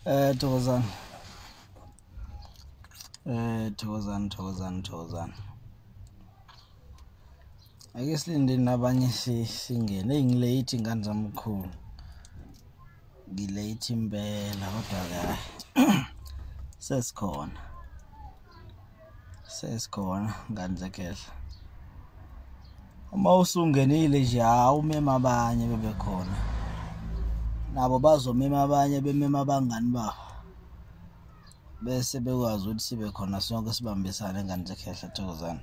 Eh thokozani. Eh thokozani thokozani thokozani. Ake silinde nabanye singene engilate ingane zamkhulu. Ngilate impela kodwa kahle. Sesikhona. sesikhona ngane zekhehla uma usungenile nje hawu umema abanye bebekhona nabo bazomema abanye bemema abangani babo bese bekwazi ukuthi sibe khona sonke sibambisane ngane zekhehla thokozane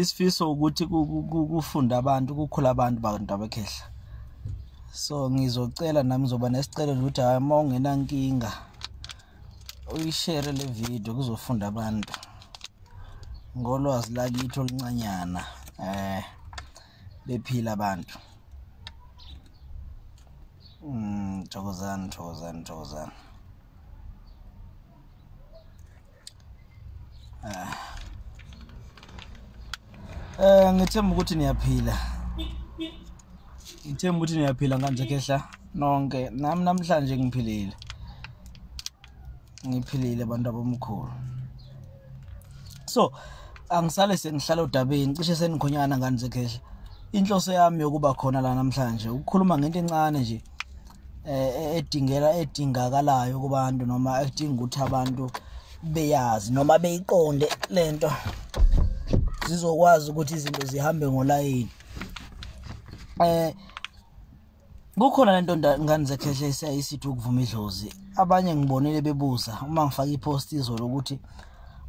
isifiso ukuthi kufunda abantu kukhula abantu bantu abekhehla so ngizocela nami ngizoba nesicelo ukuthi hayi uma ungenankinga uyishere le video kuzofunda abantu ngolwazi lakithi oluncanyana eh bephila abantu mm thokozani thokozani thokozani Eh ngithemba ukuthi niyaphila. Ngithemba ukuthi niyaphila kanje khehla nonke. Nami namhlanje ngiphilile. Ngiphilile abantu abomkhulu. So angisale sengihlala odabeni cishe senikhonyana ngani zekhehla. Inhloso yami yokuba khona la namhlanje ukukhuluma ngento encane nje. eh, edingela edingakalayo kubantu noma edinga ukuthi abantu beyazi noma beyiqonde lento zizokwazi ukuthi izinto zihambe ngolayini eh kukhona lento ngane zekhehle isiyayisithi ukuvuma idlozi abanye ngibonile bebuza uma ngifaka ipost izolo ukuthi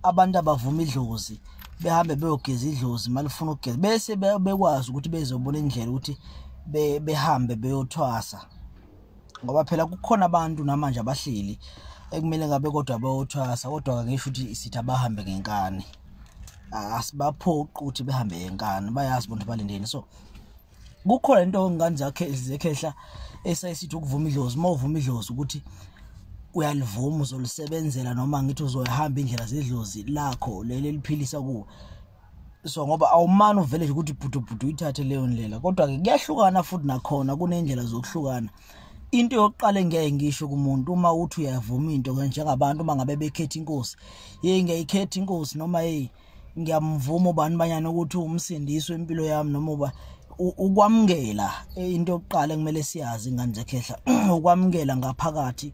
abantu abavuma idlozi behambe beyogeza idlozi malifuna ukugeza bese bekwazi ukuthi bezobona indlela ukuthi behambe beyothwasa ngoba phela kukhona abantu namanje abahleli ekumele ngabe kodwa bayothwasa kodwa kangisho ukuthi sithi abahambe ngenkani asibaphoqi ukuthi behambe ngenkani bayazi bonke balindeni so kukhona into ongane zakhe zekhehla esayisithi ukuvuma idlozi uma uvuma idlozi ukuthi uyalivuma uzolisebenzela noma ngithi uzoyihamba indlela zedlozi lakho leli eliphilisa kuwe so ngoba awumani uvele nje ukuthi bhudubhudu uyithathe leyo ndlela kodwa-ke kuyahlukana futhi nakhona kuney'ndlela zokuhlukana into yokuqala engeke ngisho kumuntu uma uthi uyavuma into njengabantu uma ngabe bekhetha inkosi yeyi ngiyayikhetha inkosi noma yeyi ngiyamvuma ubani banyana ukuthi umsindiswe impilo yami noma uba ukwamukela eh, into yokuqala ekumele siyazi ingane zekhehla ukwamukela ngaphakathi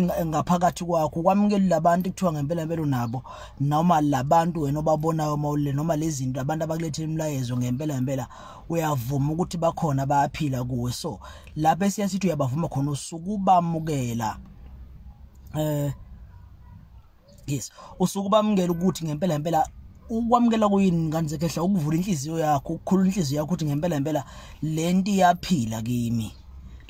ngaphakathi kwakho kwamukela labantu kuthiwa ngempela impela nabo noma labantu wena obabonayo uma ulile noma lezinto abantu abakulethela imilayezo ngempela impela uyavuma ukuthi bakhona bayaphila kuwe so lapho esiya sithi uyabavuma khona usuku bamukela eh yes usuke ubamukela ukuthi ngempela ngempela ukwamukela kuyini ngane zekhehla ukuvula inhliziyo yakho ukukhulula inhliziyo yakho ukuthi ngempela ngempela lento iyaphila kimi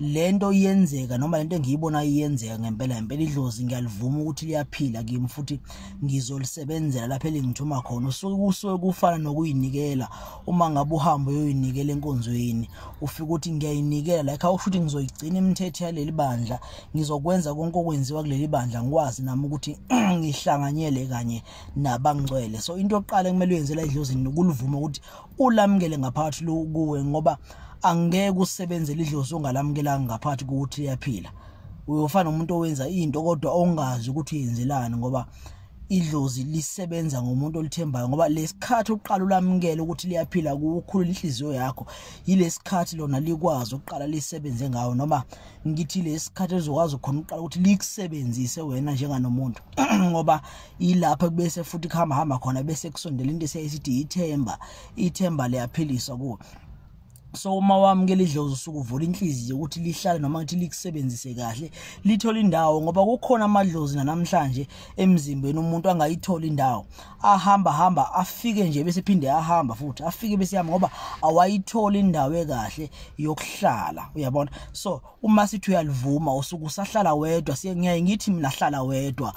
lento iyenzeka noma lento engiyibona iyenzeka ngempela ngempela idlozi ngiyalivuma ukuthi liyaphila kimi futhi ngizolisebenzela lapha elingithuma khona usuke kusuke kufana nokuyinikela uma ngabe uhamba uyoyinikela enkonzweni ufika ukuthi ngiyayinikela like awusho ukuthi ngizoyigcina imithetho yaleli bandla ngizokwenza konke okwenziwa kuleli bandla ngikwazi nami ukuthi ngihlanganyele kanye nabangcwele so into yokuqala kumele uyenzela edlozini ukulivuma ukuthi ulamukele ngaphakathi kuwe ngoba angeke usebenzele idlozi ongalamukelanga ngaphakathi kokuthi liyaphila uyofana nomuntu owenza into kodwa ongazi ukuthi uyenzelani ngoba idlozi lisebenza ngomuntu olithembayo ngoba lesikhathi uqala ulamukele ukuthi liyaphila kukhulu inhliziyo yakho yilesikhathi lona likwazi ukuqala lisebenze ngawo noma ngithi lesikhathi ezokwazi khona uqala ukuthi likusebenzise wena njenganomuntu ngoba ilapha kubese futhi kuhamba hamba khona bese kusondela into esithi ithemba ithemba liyaphilisa kuwe so uma wamukela idlozi usuke uvula inhliziyo ukuthi lihlale noma ukuthi likusebenzise kahle lithole indawo ngoba kukhona amadlozi nanamhlanje emzimbeni umuntu angayithola indawo ahamba hamba afike nje bese phinde ahamba futhi afike bese yami ngoba awayithola indawo ekahle yokuhlala uyabona so uma sithi uyalivuma usuku sahlala wedwa siyengiyaye ngithi mina hlala wedwa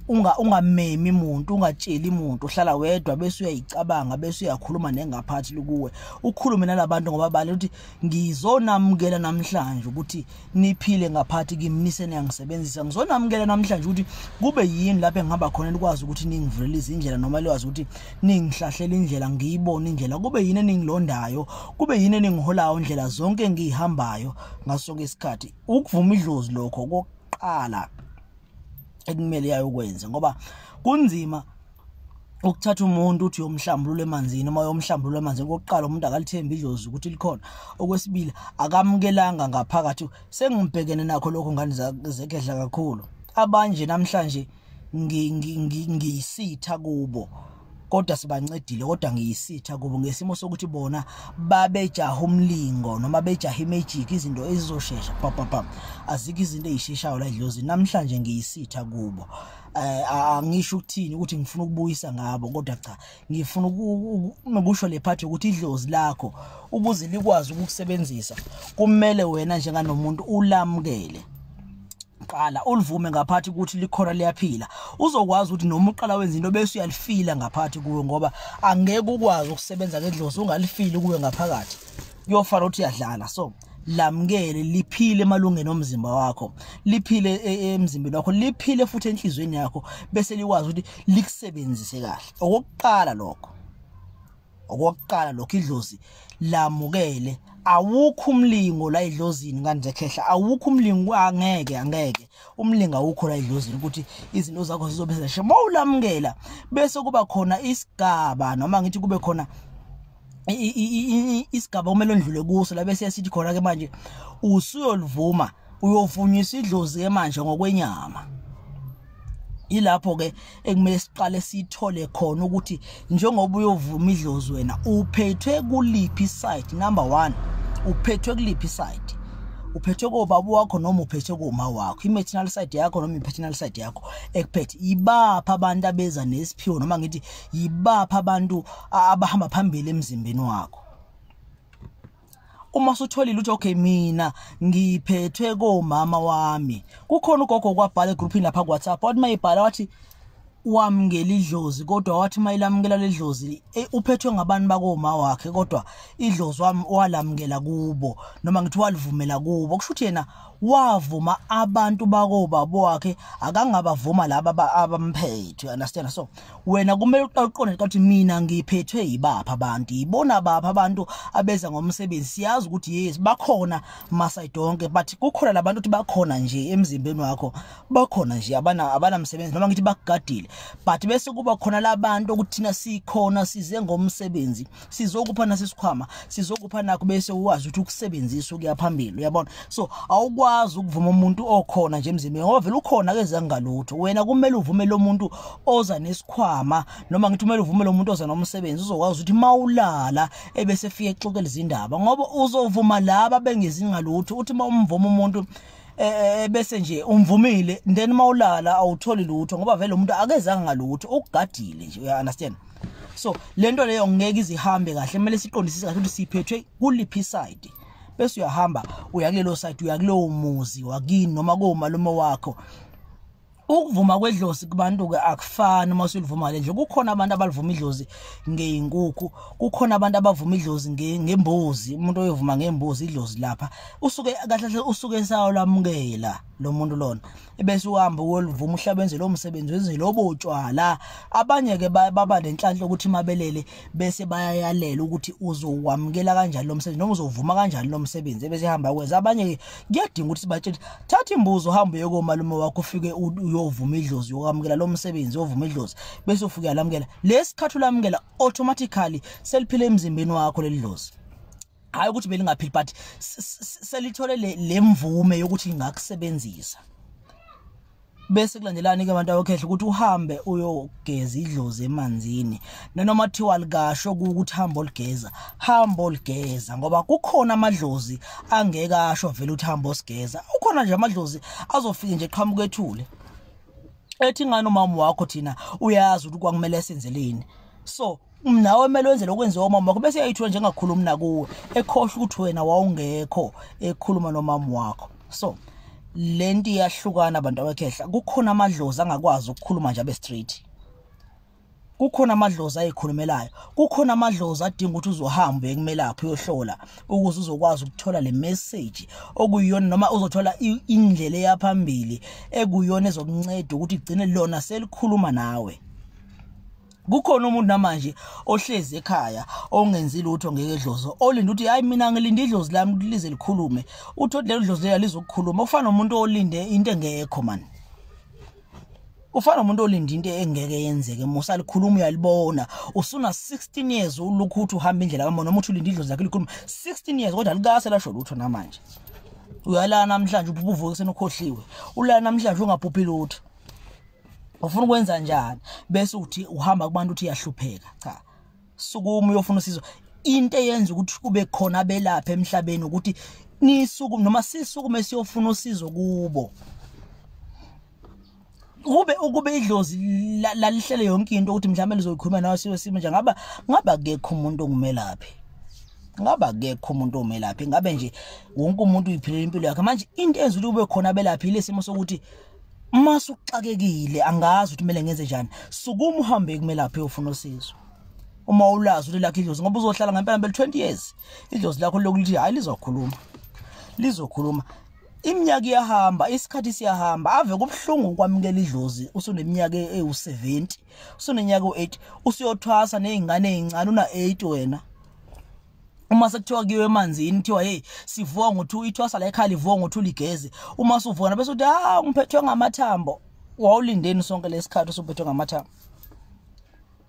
unga ungamemi umuntu ungatsheli umuntu uhlala wedwa bese uyayicabanga bese uyakhuluma nengaphathi kuwe ukhulume nalabantu ngoba bale ukuthi ngizonamukela namhlanje ukuthi niphile ngaphathi kimi nisenyangisebenzisa ngizonamukela namhlanje ukuthi kube yini lapho engihamba khona likwazi ukuthi ningivulele izindlela noma likwazi ukuthi ningihlahlele indlela ngiyibone indlela kube yini eningilondayo kube yini eningiholayo indlela zonke engiyihambayo ngaso sonke isikhathi ukuvuma idlozi lokho kokuqala ekumele yayokwenza ngoba kunzima ukuthatha umuntu uthi uyomhlambulula emanzini uma uyomhlambulula emanzini kokuqala umuntu akalithembi idlozi ukuthi likhona okwesibili akamukelanga ngaphakathi sengibhekene nakho lokho ngane zekedla kakhulu abanje namhlanje ngiyisitha kubo kodwa sibancedile kodwa ngiyisitha kubo ngesimo sokuthi bona babejaha umlingo noma bejaha imejiki izinto ezizoshesha papapam azikho izinto ezisheshayo la idlozi namhlanje ngiyisitha kubo eh, angisho ukuthini ukuthi ngifuna ukubuyisa ngabo kodwa cha ngifuna nokusho le phathi ukuthi idlozi lakho ukuze likwazi ukukusebenzisa kumele wena njenganomuntu ulamukele qala ulivume ngaphathi ukuthi likhona liyaphila uzokwazi ukuthi noma uqala wenza into bese uyalifila ngaphathi kuwe ngoba angeke ukwazi ukusebenza ngedlozi ungalifili kuwe ngaphakathi kuyofana ukuthi uyadlala so lamukele liphile emalungeni omzimba wakho liphile e, e, emzimbeni wakho liphile futhi enhlizweni yakho bese likwazi ukuthi likusebenzise kahle okokuqala lokho okokuqala lokho idlozi lamukele awukho umlingo la idlozini kanje khehla awukho umlingo angeke angeke umlingo awukho la idlozini ukuthi izinto zakho zizobe zishe mawulamukela bese kuba khona isigaba noma ngithi kube khona isigaba okumele ondlule kuso la bese sithi khona ke manje usuyolivuma uyovunywa isidlozi ke manje ngokwenyama ilapho ke ekumele siqale sithole khona ukuthi njengoba uyovuma idlozi wena uphethwe kuliphi site number 1 uphethwe kuliphi site uphethwe kobaba wakho noma uphethwe koma wakho i-maternal side yakho noma i-paternal side yakho ekuphethe ibapha abantu abeza nesiphiwo noma ngithi yibapha abantu abahamba phambili emzimbeni wakho uma sutholile uthi okay mina ngiphethwe komama wami kukhona ugogo kwabhala egroupini lapha kuWhatsApp wathi mayibhala wathi wamngela idlozi kodwa wathi mayilamukela ledlozi e, uphethwe ngabantu bakoma wakhe kodwa idlozi wami walamukela kubo noma ngithi walivumela kubo kusho ukuthi yena wavuma abantu bakobabo wakhe akangabavuma laba abamphethe understand so wena kumele uqale uqonde ukuthi mina ngiphethwe yibapha abantu yibona bapha abantu abeza ngomsebenzi siyazi ukuthi yes bakhona masidonke but kukhona labantu ukuthi bakhona nje emzimbeni wakho bakhona nje abana abanamsebenzi noma ngithi bakugadile but bese kuba khona labantu ukuthi thina sikhona size ngomsebenzi sizokupha nasesikhwama sizokupha nakho bese uwazi ukuthi ukusebenzisa ukuya phambili uyabona so awukwazi ukuvuma umuntu okhona nje emzimbeni ngoba vele ukhona ke zangalutho wena kumele uvume lo muntu oza nesikhwama noma ngithi kumele uvume lo muntu oza nomsebenzi uzokwazi ukuthi mawulala ebese fike exoxela izindaba ngoba uzovuma laba bengezingalutho uthi uma umvuma umuntu e, e, e, bese nje umvumile then mawulala awutholi lutho ngoba vele umuntu akezanga ngalutho ukugadile nje uya understand so lento leyo ngeke izihambe kahle kumele siqondisise kahle ukuthi siphethwe kuliphi side bese uyahamba uya kulelo side uya kulowo muzi wakini noma komalume wakho ukuvuma kwedlozi kubantu ke akufani uma usulivuma lenje kukhona abantu abalivuma idlozi ngeinkukhu kukhona abantu abavuma idlozi ngembuzi umuntu oyovuma ngembuzi idlozi lapha usuke kahle usuke esayo lamukela lo muntu lona ebese uhamba uyolivuma uhlabenze lo msebenzi wenze lobo utshwala abanye ke baba lenhlanhla ukuthi mabelele bese bayayalela ukuthi uzokwamukela kanjani lo msebenzi noma uzovuma kanjani lo msebenzi ebese hamba kwenza abanye kuyadinga ukuthi sibatshele thatha imbuzo uhambe yokomalume wakho ufike uyovuma idlozi yokwamukela lo msebenzi uyovuma idlozi bese ufike yalamukela lesikhathi ulamukela automatically seliphile emzimbeni wakho leli dlozi hayi ukuthi belingaphili but selithole le mvume yokuthi lingakusebenzisa bese kulandelani ke abantu awokhehla ukuthi uhambe uyogeza idlozi emanzini nanoma thiwa likasho ukuthi hamba oligeza hamba oligeza ngoba kukhona amadlozi angeke asho vele ukuthi hamba osigeza ukhona nje amadlozi azofike nje qhamuka ethule ethi ngani umama wakho thina uyazi ukuthi kwakumele senzeleni so nawe kumele wenze lokwenziwa umama wakho bese yayithiwa njengakhulumi nakuwe ekhohle ukuthi wena wawungekho ekhuluma nomama wakho so le nto iyahlukana abantu abakhehla kukhona amadlozi angakwazi ukukhuluma nje abe straight kukhona amadlozi ayikhulumelayo kukhona amadlozi adinga ukuthi uzohamba uyekumelaphhi uyohlola ukuze uzokwazi ukuthola le message okuyiyona noma uzothola indlela eyaphambili ekuyona ezokunceda ukuthi igcine lona selikhuluma nawe kukhona umuntu namanje ohlezi ekhaya ongenzi lutho ngeke dlozo olinda ukuthi hayi mina ngilinde idlozi lami ukuthi lize likhulume uthi lelo dlozi lela lizokukhuluma ufana nomuntu olinde into engekho mani ufana umuntu olinda into engeke yenzeke musa likhuluma uyalibona usuna 16 years ulukhu uthi uhamba indlela kamona umuntu ulinda idlozi lakhe likhuluma 16 years kodwa likase lasho lutho namanje uyalana namhlanje ubuvuke senokhohliwe ulana namhlanje ungabhubhi lutho ufuna ukwenza njani bese uthi uhamba kubantu uthi yahlupheka cha sukuma uyofuna usizo into eyenza ukuthi kube khona abelapha emhlabeni ukuthi nisuku noma sisukume siyofuna usizo kubo kube ukube idlozi lalihlele yonke into ukuthi mhlawumbe lizoyikhuluma nawe siwe simo nje ngaba ngaba kekho umuntu ongumelaphi ngaba kekho umuntu omelaphi ngabe nje wonke umuntu uyiphilela impilo yakhe manje into enza ukuthi kube khona abelaphi lesimo sokuthi uma suxakekile angazi ukuthi kumele ngenze njani sukuma uhambe kumelaphi uyofuna usizo uma ulazi ukuthi lakho idlozi ngoba uzohlala ngempela ngempela 20 years idlozi lakho lokuthi hayi lizokhuluma lizokhuluma iminyaka iyahamba isikhathi siyahamba ave kubuhlungu ukwamukela idlozi usuneminyaka ewu70 usunenyaka u8 usiyothwasa nezingane ezincane una8 wena uma sekuthiwa kuyiwe emanzini kuthiwa hey sivuka ngo2 ithwasa la ekhali vuka ngo2 ligezi uma suvona bese uthi ah ngiphethwe ngamathambo wawulindeni sonke lesikhathi usuphethwe ngamathambo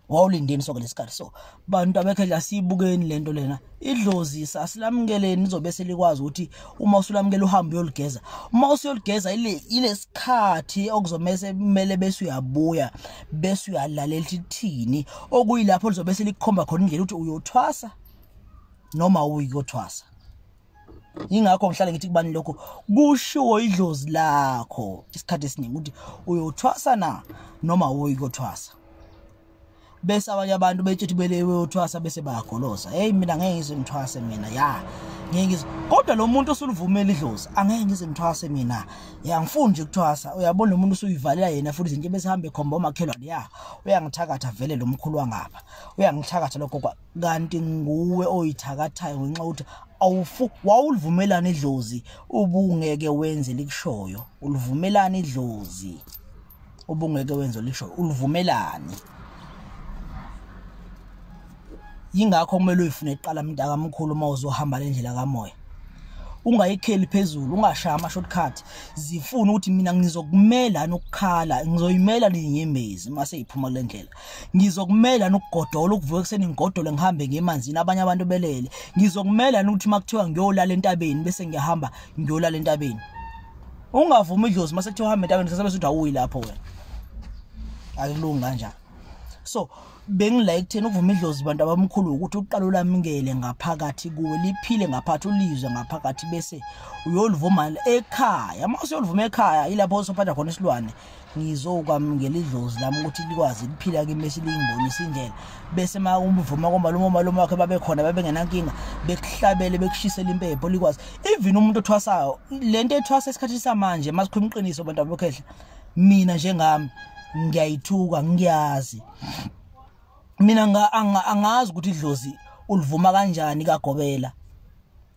wawulindeni sonke lesikhathi so bantu abekhe la siyibukeni lento lena idlozi sasilamukeleni izobe selikwazi ukuthi uma usulamukela uhambe uyoligeza uma usuyoligeza ile ilesikhathi okuzomese kumele bese uyabuya bese uyalalela ukuthi thini okuyilapho lizobe selikhomba khona indlela ukuthi uyothwasa noma uyothwasa ingakho ngihlale ngithi kubani lokho kushiwo idlozi lakho isikhathi esiningi ukuthi uyothwasa na noma uyothwasa bese abanye abantu betshethi belewe uthwasa bese bayagolosa hey mina ngeke ngize ngithwase mina ya ngeke ngize kodwa lo muntu osulivumela idlozi angeke ngize ngithwase mina ya ngifuni nje kuthwasa uyabona umuntu usuyivalela yena futhi izinto besihambe khomba omakhelwane ya uyangithakatha vele lo mkhulu wangapha uyangithakatha lokho kwa kanti nguwe oyithakathayo ngenxa ukuthi awufu wawulivumelana idlozi ubungeke wenze likushoyo ulivumelana idlozi ubungeke wenze lisho ulivumelani yingakho kumele uyifune iqala mntaka mkhulu uma uzohamba le ndlela kamoya ungayikheli phezulu ungashaya ama-shortcut zifune ukuthi mina ngizokumela nokukhala ngizoyimela niyinyembezi uma seyiphuma kule ndlela ngizokumela nokugodola ukuvuka ekuseni ngigodole ngihambe ngemanzini abanye abantu belele ngizokumela nokuthi uma kuthiwa ngiyolala entabeni bese ngiyahamba ngiyolala entabeni ungavumi idlozi mase kuthiwa uhambe entabeni sasabe suthi awuyi lapho wena akulungi kanjani so bengilike thina ukuvuma idlozi bantu abamkhulu ukuthi uqala ulamukele ngaphakathi kuwe liphile ngaphathi ulizwe ngaphakathi bese uyolivuma ekhaya uma usuyolivuma ekhaya ilapho usophatha khona isilwane ngizokwamukela idlozi lami ukuthi likwazi liphila kimi bese lingibonisa indlela bese uma umvuma komalume omalume wakhe babekhona babengenankinga bekuhlabele bekushisela impepho likwazi even umuntu othwasayo le nto ethwasa esikhathini samanje uma sikhuluma iqiniso abantu abakhehla mina njengami ngiyayithuka ngiyazi mina angazi ukuthi idlozi ulivuma kanjani kagobela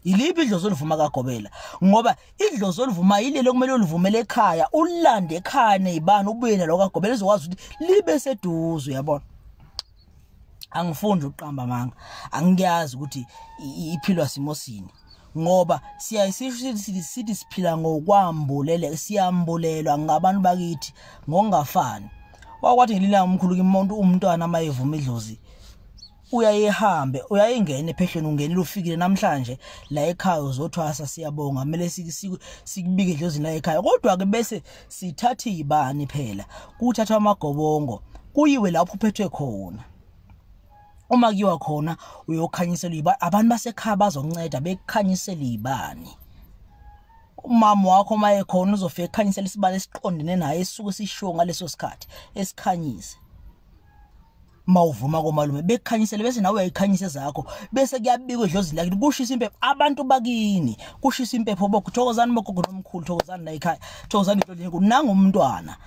yiliphi idlozi olivuma kagobela ngoba idlozi olivuma yilelo kumele ulivumele ekhaya ulande ekhaya nezibani ubuye nalo kagobela ezokwazi ukuthi libe seduze uyabona angifundi ukuqamba manga angiyazi ukuthi iphilwa simo sini ngoba siyaye sithi siphila ngokwambulele siyambulelwa ngabantu bakithi ngokungafani wakwathi ngelilanga umkhulu kimuntu umntwana uma evuma idlozi uyayehambe uyayengena ephehlweni ungenile ufikile namhlanje la ekhaya uzothwasa siyabonga kumele sikubike idlozini la ekhaya kodwa-ke bese sithathe ibani phela kuthathwa amagobongo kuyiwe lapho uphethwe khona uma kuyiwa khona uyokhanyisela iba abantu basekhaya bazonceda bekukhanyisela ibani umama wakho uma ekhona uzofika ekhanyisela isibani esiqondene naye esuke sishiwo ngaleso sikhathi esikhanyise mawuvuma komalume bekukhanyisele bese nawe uyayikhanyisa zakho bese kuyabikwa edlozini lakini kushisa impepho abantu bakini kushisa impepho bokuthokozani bogogo nomkhulu thokozani la ekhaya thokozani into lenye kunangumntwana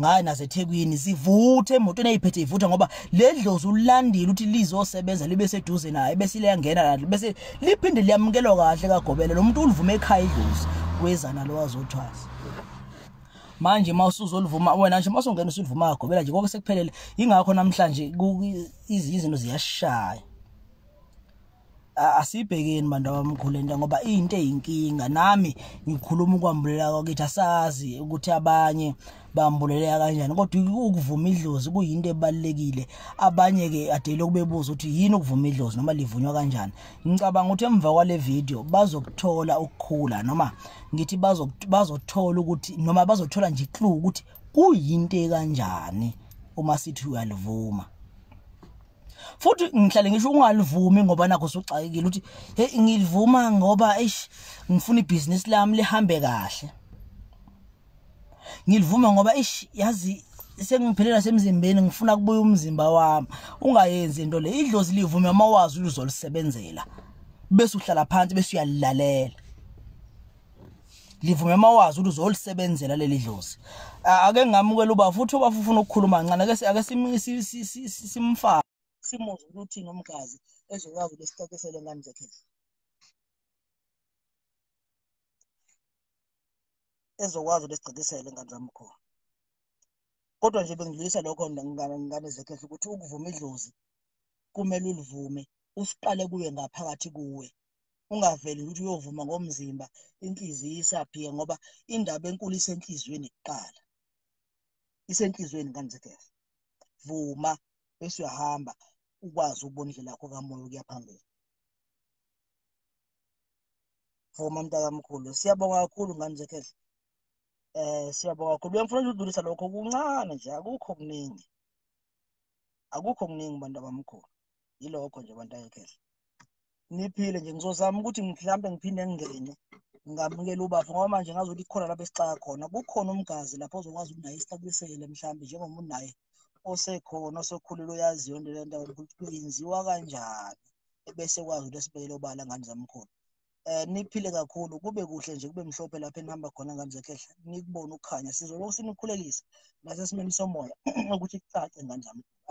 ngayo nasethekwini sivuthe emotweni eyiphethe ivutha ngoba le dlozi ulandile ukuthi lizosebenza libe seduze naye bese liyangena kanti bese liphinde liyamukelwa kahle kagobela lo muntu ulivume ekhaya idlozi kwezana lo wazothwasa manje uma usuzolivuma wena nje uma usungena usulivuma kagobela nje konke sekuphelele ingakho namhlanje izinto ziyashaya asibhekeni bantu abamkhulu into ngoba into eyinkinga nami ngikhuluma ukwambulela kwakithi asazi ukuthi abanye bambuleleka kanjani kodwa ukuvuma idlozi kuyinto ebalekile abanye ke adele ukubebuza ukuthi yini ukuvuma idlozi noma livunywa kanjani ngicabanga ukuthi emva kwale video bazokuthola ukukhula noma ngithi bazothola ukuthi noma bazothola nje clue ukuthi kuyinto kanjani uma sithi uyalivuma futhi ngihlale ngisho ungalivumi ngoba nakho usugxakekile ukuthi hey ngilivuma ngoba eish ngifuna ibhizinisi lami lihambe kahle ngilivuma ngoba eish yazi sengiphelela semzimbeni ngifuna kubuya umzimba wami ungayenzi into le idlozi livume uma wazi luzolisebenzela bese uhlala phansi bese uyalilalela livume mawazi ukuthi uzolisebenzela leli dlozi ake ngamukela uba futhi uba ufuna ukukhuluma kancane ake ake simfake simuzwe ukuthi nomgazi ezokwazi lesixoxisele ngani zakhe ezokwazi lesigcikisele ngani zami khona kodwa nje bengidlulisa lokho ngane zekhehla ukuthi ukuvuma idlozi kumele ulivume usiqale kuye ngaphakathi kuwe ungaveli ukuthi uyovuma ngomzimba inhliziyo isaphike ngoba indaba enkulu isenhliziyweni kuqala isenhliziyweni kanzekef vuma bese uyahamba ukwazi ukubona indlela yakho kamoya ukuya phambili vuma mntakamkhulu siyabonga kakhulu ngane zekef eh siyabonga kakhulu bengifuna nje udlulisa lokho kuncane nje akukho kuningi akukho kuningi bantu abamkhulu yilokho nje abantu ayekhehla ngiphile nje ngizozama ukuthi mhlawumbe ngiphinde ngingene ngamukela ubafo ngoba manje ngazi ukuthi khona lapho esixaka khona kukhona umgazi lapho ozokwazi ukunaye istablisele mhlawumbe njengoba unaye osekhona osokhulile oyaziyo into lento ukuthi kuyenziwa kanjani ebese kwazi ukuthi esibekele obala ngane zamkhulu eh niphile kakhulu kube kuhle nje kube mhlophe lapha enihamba khona ngane zekhehla nikubona ukukhanya sizolokhu sinikhulekisa nasesimeni somoya ukuthi kucace ngane zamkhulu